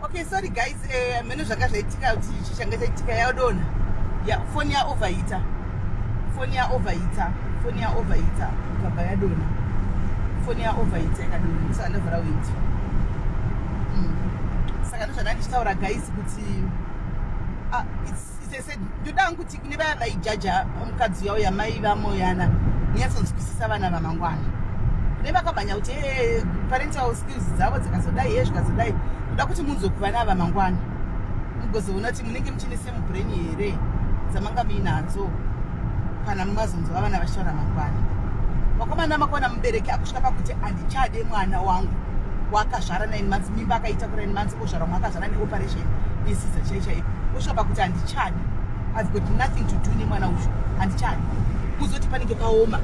Okay, sorry guys, eh, mene zvanga zvaitika kuti ichi changa chaitika yadona. Ya phone ya overheater. Phone ya overheater. Phone ya overheater. Ikabva yadona. Phone ya overheater ikadona. Ndisaka ndavhara window. Mm. Saka ndozvanga ndichitaura guys kuti ah, it's ndoda hangu kuti kune vaya vaijaja mukadzi yavo yamai vamoyana nyatsonzwisisa vana vamangwana kune vakamhanya kuti eh, parental skills dzavo dzikazodai ye zvikazodai ndoda kuti munzwe kuvana ava mangwana mugozoona kuti munenge muchine same brain here dzamanga muinadzo kana mumazonzwa vana vachitaura mangwana vakomana makona mubereki akusvika pakuti handichade mwana wangu wakazvara nine months mimba akaita ku nine months kozvara mwa vane operation yesiza chai chai osvika pakuti handichadi i've got nothing to do nemwana uyu handichadi kuzoti panenge paoma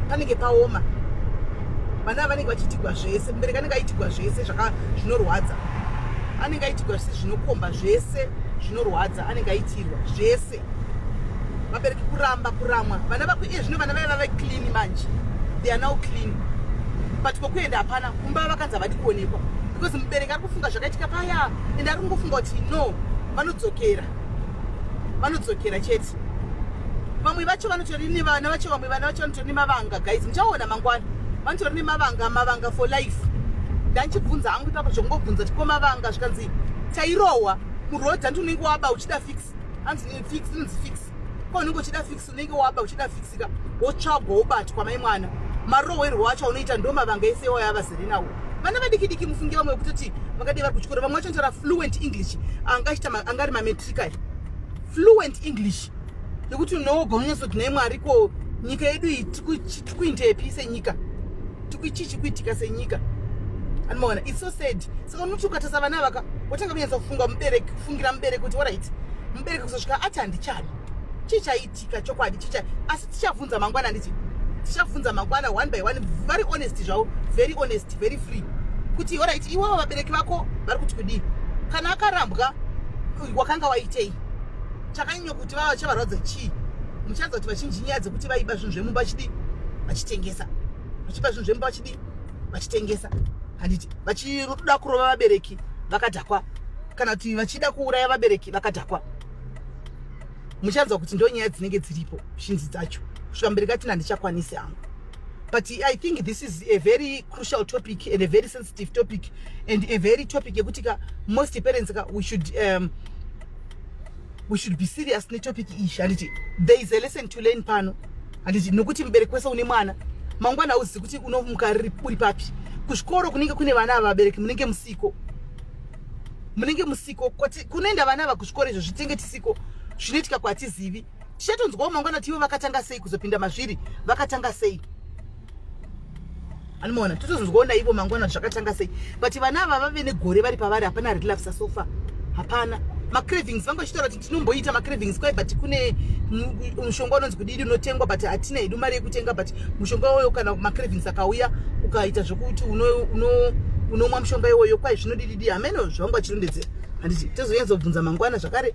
panenge paoma vana vanenge vachiitigwa zvese mubereki anenge aitigwa zvese zvinorwadza anenge aitigwa zvese zvinokomba zvese zvinorwadza anenge aitirwa zvese vabereki kuramba kuramwa vana vako iye zvino vana vaye vave clean manje they are now clean but kokuenda hapana kumba vakanzi havadi kuonekwa because mubereki ari kufunga zvakaitika paya ende ari kungofunga kuti no vanodzokera vanodzokera chete vamwe vacho vanotori nevana vacho vamwe vana vacho vanotori nemavanga guys muchaona mangwana vanotori nemavanga mavanga for life ndandichibvunza hangu ipapo zvokungobvunza tikoma vanga zvikanzi tairohwa muroad anti unenge waba uchida fix hanzi eh, fix inonzi fix ko unenge uchida fix unenge waba uchida fixika wotsvagwa wobatwa mai mwana marohwerwo wacho unoita ndo mavanga ese iwayo avazere nawo vana vadikidiki mufunge vamwe vekutoti vakadii vari kuchikoro vamwe vacho ntaura fluent english anga achita anga ari mametrica fluent english yekuti unoogwa munyazoti nhai mwari ko nyika yedu iyi tikuindepi senyika chii chikuitika senyika anomaona its so sad saka unoti ukatasa vana vaka wotanga kunyatsa kufunga mubereki kufungira mubereki kuti orit mubereki kuzosvika ati handichani chii chaitika chokwadi chii asi tichavhunza mangwana handiti tichavhunza mangwana one by one very honest zvavo very honest very free kuti orit iwavo vabereki vako vari kuti kudii kana akarambwa wakanga waitei chakanyanya kuti vava chavarwadza chii muchaedza kuti vachinji nyaya dzekuti vaiba zvinhu zvemumba vachidii vachitengesa vachiba zvinhu zvemumba vachidii vachitengesa handiti vachitoda kurova vabereki vakadhakwa kana kuti vachida kuuraya vabereki vakadhakwa muchanzwa kuti ndo nyaya dzinenge dziripo shinzi dzacho kusvika mberi katina ndichakwanisi hangu but i think this is a very crucial topic and a very sensitive topic and a very topic yekuti ka most parents ka we should um, we should be serious netopic iyi handiti there is a lesson to learn pano handiti nokuti mubereki wese une mwana mangwana hauzivi kuti unomuka uri papi kuzvikoro kunenge kune vana ava vabereki munenge musiko munenge musiko kuti kunoenda vana ava kuzvikoro izvo zvitenge tisiko zvinoitika kwatizivi tichatonzwawo mangwana kuti ivo vakatanga sei kuzopinda mazviri vakatanga sei anomaona totozonzwawo naivo mangwana zvakatanga sei but vana ava vave negore vari pavari hapana relapsa sofa hapana macravings vanga vachitaura kuti tinomboita macravings kwai but kune mushonga unonzi kudidi unotengwa but hatina hedu mari yekutenga but mushonga iwoyo kana macravings akauya ukaita zvekuti unomwa mushonga iwoyo kwai zvinodididi hameno zvavanga vachirondedzera handiti tozonyanyzobvunza mangwana zvakare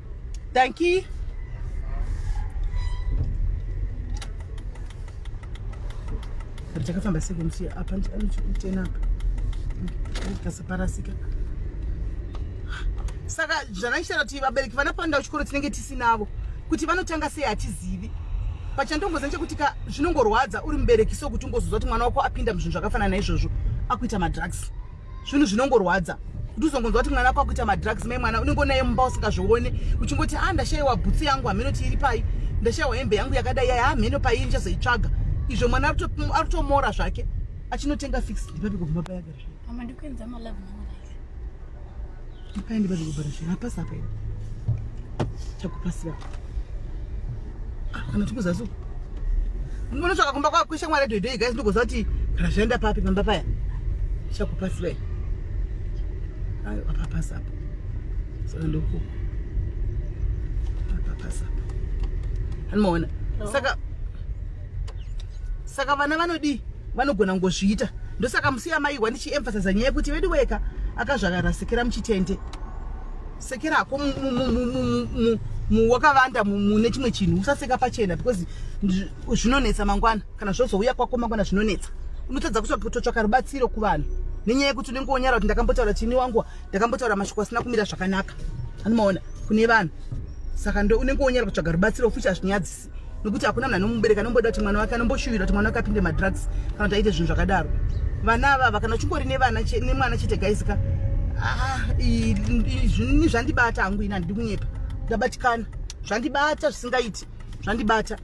Dankie. But I can't see them see up and down to ten up. That's a parasika. Saka zvakaita kuti vabereki vanapanda kuchikoro tinenge tisinavo kuti vanotanga sei hatizivi pachandongoza nechekuti ka zvinongorwadza uri mubereki so kuti ungozoziva kuti mwana wako apinda muzvinhu zvakafanana naizvozvo akuita madrugs zvinhu zvinongorwadza kuti uzongonzwa kuti mwana kwakuita madrugs mai mwana unenge unaye mumba usingazvione uchingoti a ah, ndashayiwa bhutsu yangu hameno ti iri pai ndashayiwa hembe yangu yakadai yaya hameno ah, paii ndichazoitsvaga izvo mwana arutomora zvake achinotenga fix ndipapi kubva mapayagara zvake Paende bado kubara shira pasa paende. Chakupasira. Ah, kana tukuza zuku. Mbona tsvaka kumba kwa kwisha mwari doidoi guys ndokuza kuti razvaenda papi pamba paya. Chakupasira. Ayo apa pasa apa. Saka ndoku. Apa pasa apa. Hanoona. Saka Saka vana vanodii? vanogona kungozviita ndosaka musiya maihwa ndichiemphasiza nyaya yekuti vedu weka akazvagara sekera muchitende sekera hako wakavanda mune chimwe chinhu usaseka pachena because zvinonetsa mangwana kana zvozouya kwako mangwana zvinonetsa unotadza kutotsvaka rubatsiro kuvanhu nenyaya yekuti unenge wonyara kuti ndakambotaura chini wangu ndakambotaura mashoko asina kumira zvakanaka anomaona kune vanhu saka ndo unenge wonyara kutsvaga rubatsiro futi hazvinyadzisi nokuti hakuna munhu anomubereka anomboda kuti mwana wake anomboshuvira kuti mwana wake apinde madrugs kana kuti aite zvinhu zvakadaro vana avava kana uchingori nemwana chete gaisika ah, zvinini zvandibata hangu ini handidi kunyepa ndabatikana zvandibata zvisingaiti zvandibata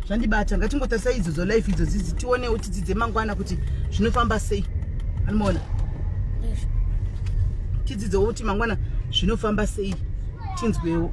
zvandibata ngatingotarisa idzo dzolife idzo dzidzi tionewo tidzidze mangwana kuti zvinofamba sei anomaona tidzidzewo kuti mangwana zvinofamba sei tinzwewo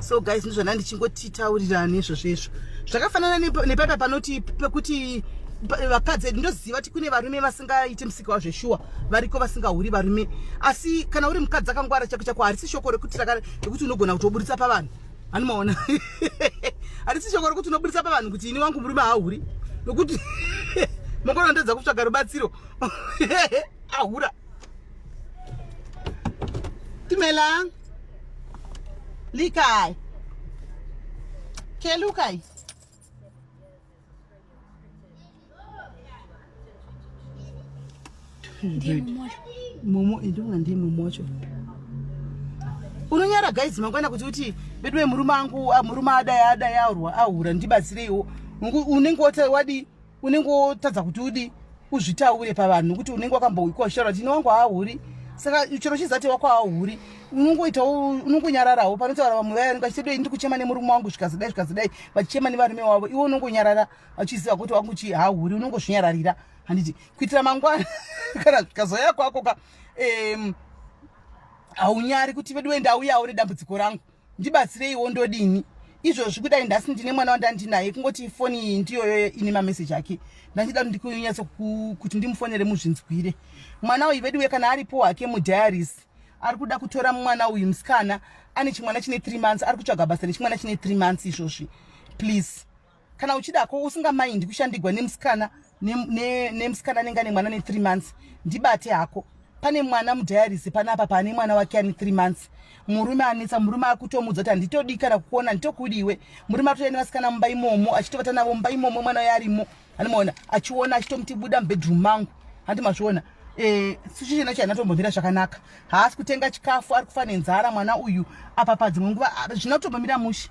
so guys ndizvana ndichingotitaurirani izvozvo izvo zvakafanana nepapa panoti pekuti vakadzi edu ndoziva kuti kune varume vasingaiti musika wazveshuwa variko vasingahuri varume asi kana uri mukadzi akangwara chako chako harisi shoko rekuti rekuti unogona kuti woburitsa pavanhu anomaona harisi shoko rekuti unoburitsa pavanhu kuti ini wangu murume haahuri nokuti mokona ndedza kutsvaga rubatsiro ahura Timelang. Likai. Kelukai. Momo idonga ndiye momo wacho. Unonyara guys mangwana kuti uti bedwe murume angu ah, murume adaya adaya aurwa ahura ndibatsireiwo. Unenge wati wadi unenge wotadza kuti udi uzvitaure pavanhu nokuti unenge wakamboikwa uchitaura kuti ine wangu haahuri saka chero chizati wako haahuri unongoitawo unongonyararawo panotaura vamwe vaya vanenge vachitedei ndiri kuchema nemurume wangu zvikazidai zvikazidai vachichema nevarume wavo iwe unongonyarara vachiziva kuti wangu chi haahuri unongozvinyararira handiti kuitira mangwana kana zvikazoya kwako ka um, haunyari kuti veduwe ndauyawo nedambudziko rangu ndibatsireiwo ndodini izvozvi kudai ndasi ndine mwana wandandinaye kungoti ifoni iyi ndiyoyo ine mameseji ake ndandida kuti ndikunyatso kuti ndimufonere muzvinzwire mwana uyu veduwe kana aripo hake mudiaris ari kuda kutora mwana uyu musikana ane chimwana chine three months ari kutsvaga basa nechimwana chine three months izvozvi please kana uchida ko usingamaindi kushandigwa nemusikana nemusikana anenge ane mwana ne3 months ndibate hako pane mwana mudiaris panapa paane mwana wake ane 3 months murume anetsa murume akutomudza kuti handitodii kana kukuona nditokudiwe murume atouya nevasikana mumba imomo achitovata navo mumba imomo mwana uyo arimo andimaona achiona achitomuti buda mubedroom mangu handi mazviona eh, sichichena chai anatombomira zvakanaka haasi kutenga chikafu ari kufa nenzara mwana uyu apa padzimwe nguva zvinotombomira mushe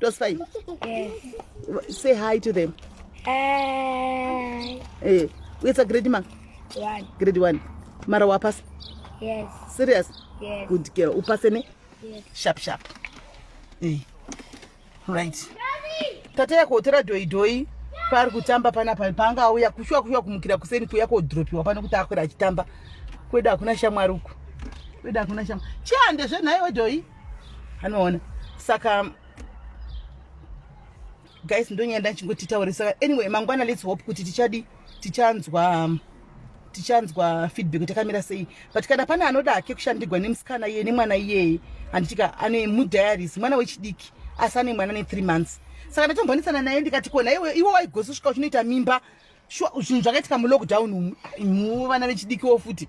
Tosify. Yes. Say hi to them. Hi. Eh, it's a grade ma. One. Grade one. Mara wa pass. Yes. Serious? Yes. Good girl. U pass ne? Yes. Sharp sharp. Eh. Right. Tata yako utora doi doi paari kutamba pana pa paanga auya kushuwa kushuwa kumukira kuseni kuya kodropiwa pano kuti akwira achitamba kwedu hakuna shamwari uku kwedu hakuna shamwari chiande zvenhaiwe doi anoona saka guys ndonyaya ndachingotitaure saka anyway mangwana lets hope kuti tichadi tichanzwa um, tichanzwa feedback kuti akamira sei but kana pane anoda hake kushandirwa nemusikana iye nemwana iyeye handitika ane mudiaries mwana wechidiki asi ane mwana ne3 months saka ndatombonisana naye ndikati kona iwe iwe waigozosvika uchinoita mimba zvinhu zvakaitika mulockdown umu vana vechidikiwo futi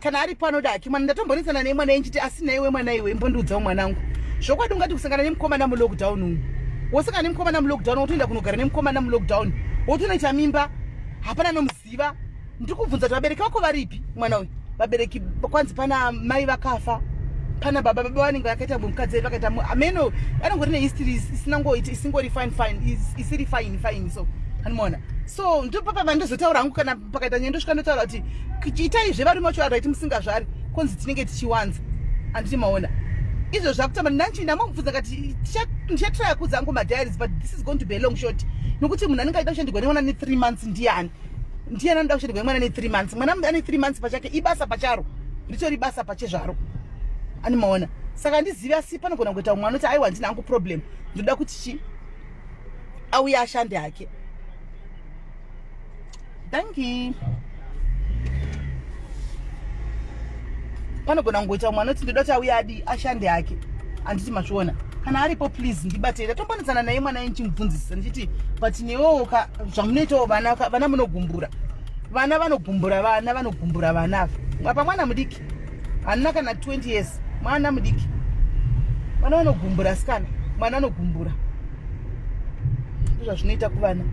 kana aripo anoda hake mwana ndatombonesana nei mwana enchiti asi naiwe mwana iwe imbondiudzawo mwanangu zvokwadi ungati kusangana nemukomana mulockdown umu wosangana nemukomana mulockdown wotoenda kunogara nemukomana mulockdown wotonoita mimba hapana nomuziva ndiri kubvunza kuti vabereki vako varipi mwana uyu vabereki kwanzi pana mai vakafa pana baba baba vanenge vakaita mukadzi vedu vakaita ameno anongori nehistory isina ngoiti isingori fine fine isiri fine fine so animoona so ndopapa vandozotaura hangu kana pakaita nyaya ndosvika ndotaura kuti itai zvevarume vacho vaiti musingazvari konzi tinenge tichiwanza handiti maona izvo zvakutamba nanchi ndamamubvunza kati ndichatraya kudza angu madiaries but this is going to be a long short nokuti munhu anenge aida kushandirwa nemwana ne three months ndiani ndiani anoda kushandirwa nemwana ne three months mwana ane three months pachake ibasa pacharo ritori basa pachezvaro ani maona saka ndizive asi panogona kuita umwe anoti aiwa ndina angu problem ndoda kuti chi auye ashande hake danki panogona kungoita mwana kuti ndoda kuti auya adi ashande hake handiti mazviona kana aripo please ndibatei ndatombonetsana naye mwana ndichimubvunzisisa ndichiti but newowoka zvamunoitawo vana vana munogumbura vana vanogumbura vana vanogumbura vana ava apa mwana mudiki hanina kana 20 years mwana mudiki vana vanogumbura sikana mwana anogumbura ndizvazvinoita kuvana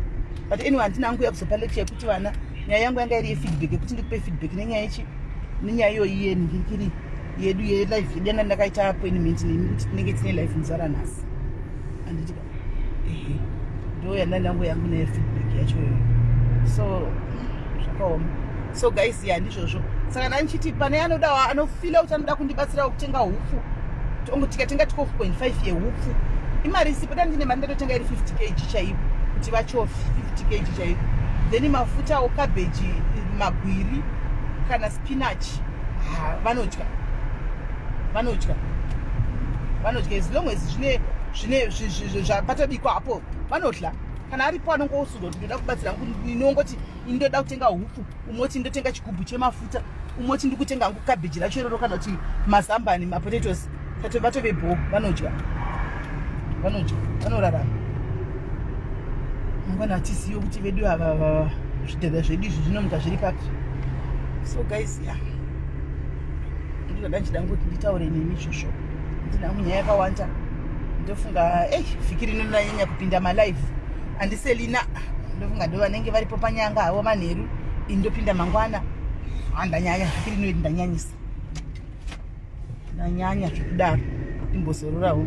but anyway handina hangu yakuzopa lecture yekuti vana nyaya yangu yanga iri yefeedback yekuti ndikupe feedback nenyaya ichi nenyaya iyoyi yeni ndikiri yedu yelife yedu yanga ndakaita appointment nemi kuti tinenge tine life muzara nhasi anditi ehe ndo yanda ndangu yangu neyefeedback yachoyo so zvakaoma so guys ya ndizvozvo saka ndanichiti pane anodawo anofila kuti anoda kundibatsirawo kutenga hupfu ongo tikatenga 12.5 yehupfu imari isipo da ndine mari ndatotenga iri 50 kg chaipo kuti vachofi 50 kg chaipo then mafutawo cabbage magwiri kana spinach vanodya vanodya vanodya as long as zvine zvine zvapatabikwa apo vanodya kana aripo anongousudoti ndoda kubatsira inongoti ini ndoda kutenga hupfu umwe kuti ndotenga chigubhu chemafuta umwe kuti ndikutenga hangu kabheji racho iroro kana kuti mazambani mapotatoes tate vatove bho vanodya vanodya vanorarama mangwana hatisiyo kuti vedu ava zvidhadha zvedu izvi zvinomuka zviri papi so guys ya ndinoda ndichida ngokuti nditaure nemi izvozvo ndina munyaya yakawanda ndofunga ei vhiki rino ndinanyanya kupinda malive andiselina ndofunga ndo vanenge varipo panyanga havo manheru indopinda mangwana handanyanya ah, zvikiri noiti ndanyanyisa ndanyanya zvekudaro imbozororawo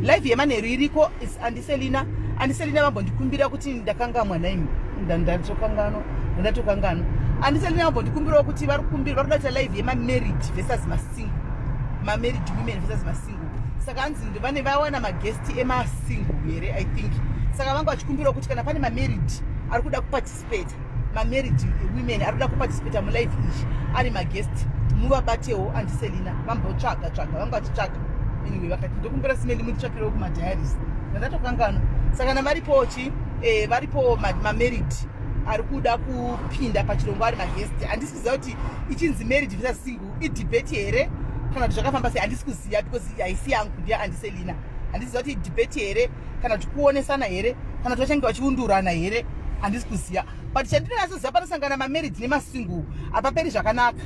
life yemanheru iriko andiselina andiselina vambondikumbira kuti ndakangamwa naimi ndatokanganwa ndatokanganwa andiselina vambondikumbirawo kuti vari kumbira vari kudaita life yemamarriage versus masingle mamarriage women versus masingle saka hanzi ndivane vawana magesti emasingle here i think saka vanga vachikumbirawo kuti kana pane mamarried ari kuda kuparticipate mamarried women ari kuda kuparticipate mulife izvi ari magesti muvabatewo andiselina vambotsvaga tsvaga vanga vachitsvaga anyway vakati ndokumbira simendi munditsvakirewo kumadiaris ndandatokangano saka na varipo chi eh, varipo mamarried ari kuda kupinda pachirongwa ari magesti handisiziva kuti ichinzi married visa single idebate here kana kuti zvakafamba sei handisi kuziva because haisi yangu ndiya andiselina handiziva kuti idebate here kana kuti kuonesana here kana kuti vachange vachiundurana here handisi kuziva but chandinonyasoziva panosangana mamarriage nemasingle hapaperi zvakanaka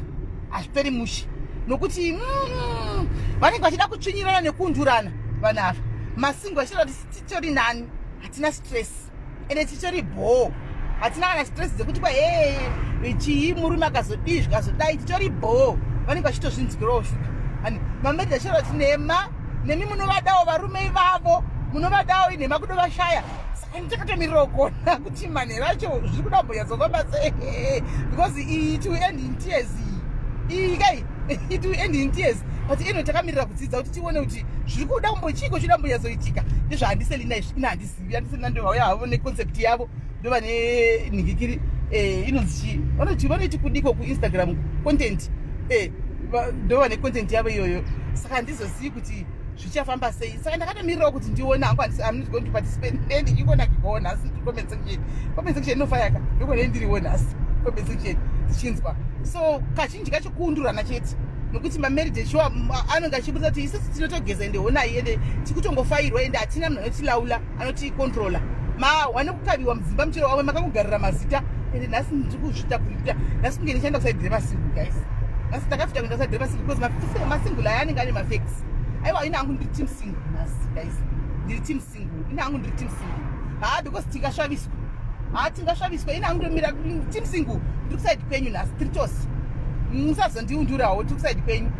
hazviperi mushe nokuti mm, vanenge vachida kutsvinyirana nekuundurana vanhu ava masingle vachitaura kuti titori nani hatina stress ende titori bhoo hatina kana stress dzekuti kwa hee chii murume akazodii zvikazodai titori bhoo vanenge vachitozvinzwirawo shuka ani mameid achireva kuti nhema nemi munovadawo varume ivavo munovadawo inhema kudo vashaya saka ndichakatomirira kugona kuti manhero acho zviri kuda kumbonyatsofamba se because it will end in tears iyi kai it will end in tears but eno takamirira kudzidza kuti tione kuti zviri kuda kumbochiiko chida mbonyazoitika ndizvahandiselina izvi ina handisi vanoziva tisina ndovauya havo neconcept yavo ndovane nhingikiri eh, inonzi chii vanoti vanoiti kudiko kuinstagram content eh, ndova necontent yavo iyoyo saka handizozivi kuti zvichafamba sei saka ndakatomirirawo kuti ndione hangu amnot going to participate ne ndichikona kigowo nhasi comment section comment section inofayaka ndokone ndiriwo nhasi comment section tichinzwa so kazhinji kacho kuundurana chete nokuti mamarriage shuwa anonge achibudisa kuti isisi tinotogeza ende honai ende tikutongofairwa ende hatina munhu anotilaula anotikontrola mawane kukaviwa mudzimba muchero wamwe makakugarira mazita ende nhasi ndiri kuzvita kuita nhasi kunge ndichaenda kusaidhire masingu guys nhasi ndakafita kuenda kusaidhire masingu because masingu laya anenge ane mafex aiwa ina angu ndiri team singu nhasi guys ndiri team single ini hangu ndiri team single haa because tingasvaviswa haa tingasvaviswa ini hangu ndomira team single ndiri kusaidi kwenyu nhasi tiri tose musazondiundurawo tiri kusaidi kwenyu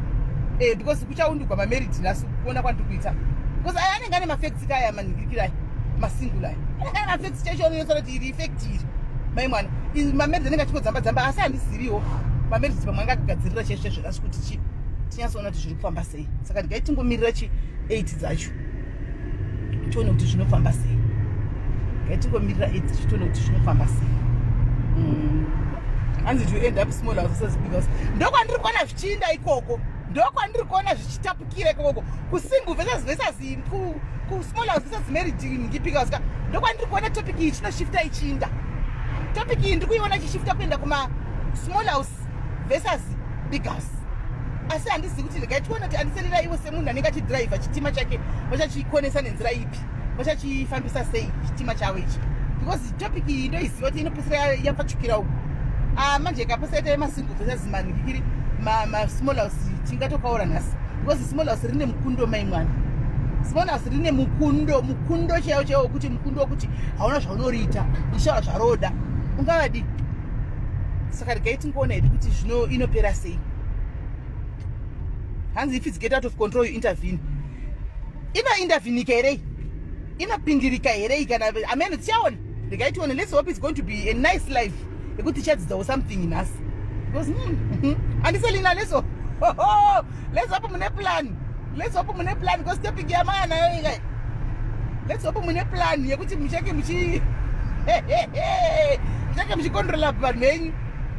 eh, because kuchaundurwa mamerid nhasi kuona kwandiri kuita because aya anenge ane mafekts kaya manhingirikirai masingle aya anenge ane mafekts chaicho anoyotsa kuti iri effect iri mai mwana mamerid anenge achingodzamba dzamba asi handiziviwo mamerid pamwe anga akagadzirira chaicho chaizvo nhasi kuti chii tinyatsoona kuti zviri kufamba sei saka ndigai tingomirira chi 8 dzacho tione kuti zvinofamba sei ngatikomira id tione kuti zvinofamba sei mm. hanzi to end up small houses because ndokwandiri kuona zvichiinda ikoko ndokwandiri kuona zvichitapukira ikoko kusingle versus versus kusmall house versus marriage ngipika ska ndokwandiri kuona topic iyi chinoshifta ichiinda topic iyi ndiri kuiona ichishifta kuenda kuma small house versus big house asi handizivi kuti regai tione kuti andiserera iwe semunhu anenge achidhiraivha chitima chake vachachikonesa nenzira ipi vachachifambisa sei chitima chavo ichi because topic iyi ndoiziva kuti inopesera yapfachukira uku ah, manje kapasaita yemasingle versus manhikiri masmall house tingatokaura nhasi because small house rine mukundo mai mwana small house rine mukundo mukundo chaiwo chaiwo wekuti mukundo wekuti hauna zvaunoriita uchaura zvaroda ungavadii saka regai tingoona hedu kuti zvino inopera sei hanzi if its get out of control you intervene inointervenika herei inopindirika herei kana ameno tichaona regai tione let's hope its going to be a nice life yekuti tichadzidzawo something nhasi because hmm, hmm, handiselina leso let's hope mune plan let's hope mune plan because topic yamaya nayo ika let's hope mune plan yekuti muchake muchi muchake muchicontrola vanhu venyu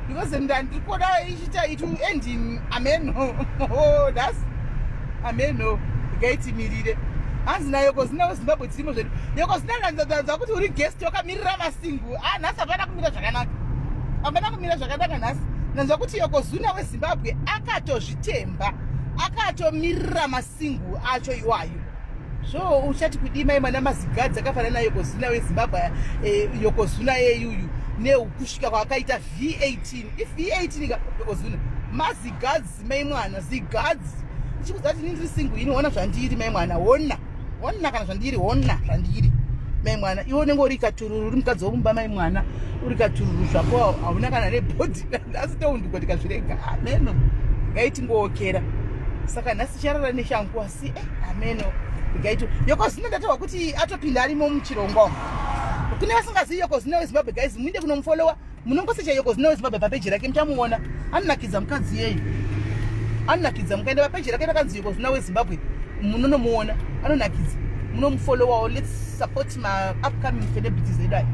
because ndandiri kuona ichiita it will end in amen oh, thus amen no ngaitimirire hanzi nayo kozinawo zimbabwe dzirimo zvedu yokozinaanzanzanza kuti uri guest wakamirira masingu a ah, nhasi hapana kumira zvakanaka hapana kumira zvakanaka nhasi nanzwa kuti yokozuna wezimbabwe akatozv Temba akatomirira masingu acho iwayo so uchati kudii mai mwana mazigadzi akafanana na yokozuna wezimbabwe eh, yokozuna yeyuyu neukusvika kwaakaita v18 if v18 ka yokozuna mazigadzi mai mwana zigadzi ichikuza kuti nindiri singu ini hona zvandiri mai mwana hona honna kana zvandiri honna zvandiri mai mwana iwe unenge uri katururu uri mukadzi womumba mai mwana uri katururu zvako hauna kana nebhodhi asi toundikwa tikazvirega ameno ngaitingookera saka nhasi charara neshangu asi eh, ameno gaito yokozvino ndatawa kuti atopinda arimo muchirongwa kune vasingazivi yokozvino wezimbabwe guys muinde kunomufollowa Munongosa chaiyo cause now Zimbabwe papeji rake muchamuona. Anonakidza mukadzi yeyi. Anonakidza mukaenda papeji rake rakanzi cause now Zimbabwe munonomuona. Anonakidza. Munomufollowawo. Let's support my upcoming celebrities edu aya.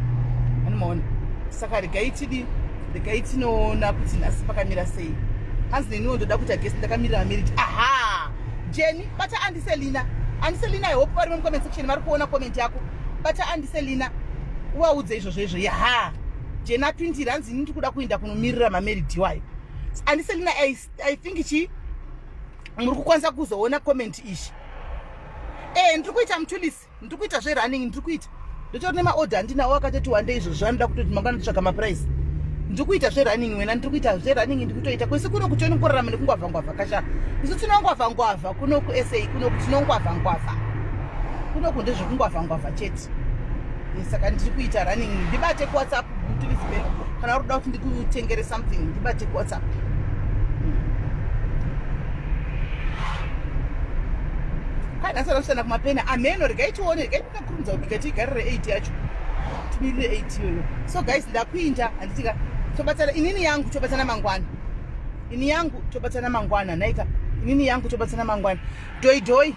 Anomaona. Saka regai tidi regai tinoona kuti nhasi pakamira sei. Hanzi neniwo ndoda kuita guest ndakamirira marriage. Aha! Jenny bata andiselina. Andiselina I hope vari mu comment section vari kuona comment yako. Bata andiselina. Uvaudze izvozvo izvo. Yaha. jena 20 ranzi ini ndikuda kuenda kunomirira mameridi wayo and selina i, I think chi muri kukwanisa kuzoona comment ichi e ndiri kuita mutulisi ndiri kuita zverunning ndiri kuita ndotori nemaorder handinawo akatoti wande izvo zvanoda kutoti mangwana nditsvaga maprice ndiri kuita zverunning wena ndiri kuita zverunning ndiri kutoita kwese kuno kuti onikurarama nekungwavhangwavha kasha isu tinongwavhangwavha kunoku sa kunoku tinongwavhangwavha kunoku ndezvekungwavhangwavha chete Eh, saka ndiri kuita running ndibate kuwhatsapp mutulisibe kana urikuda kuti ndikutengere something ndibate kuwhatsapp kainasara kushanda kumapena ameno regai tione regai ndikakurumidza kubika tiigarire 8 yacho timirire 8 iyoyo so guys ndakuinda handitika tobatsana inini yangu tobatsana mangwana ini yangu tobatsana mangwana naika inini yangu tobatsana mangwana doidoi doi.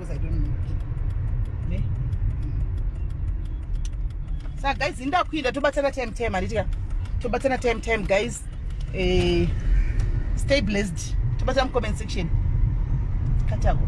because i don't know ne mm. sa guys ndakuinda tobatsana time time handitika tobatsana time time guys eh, stay blessed tobatsana mucomment section katako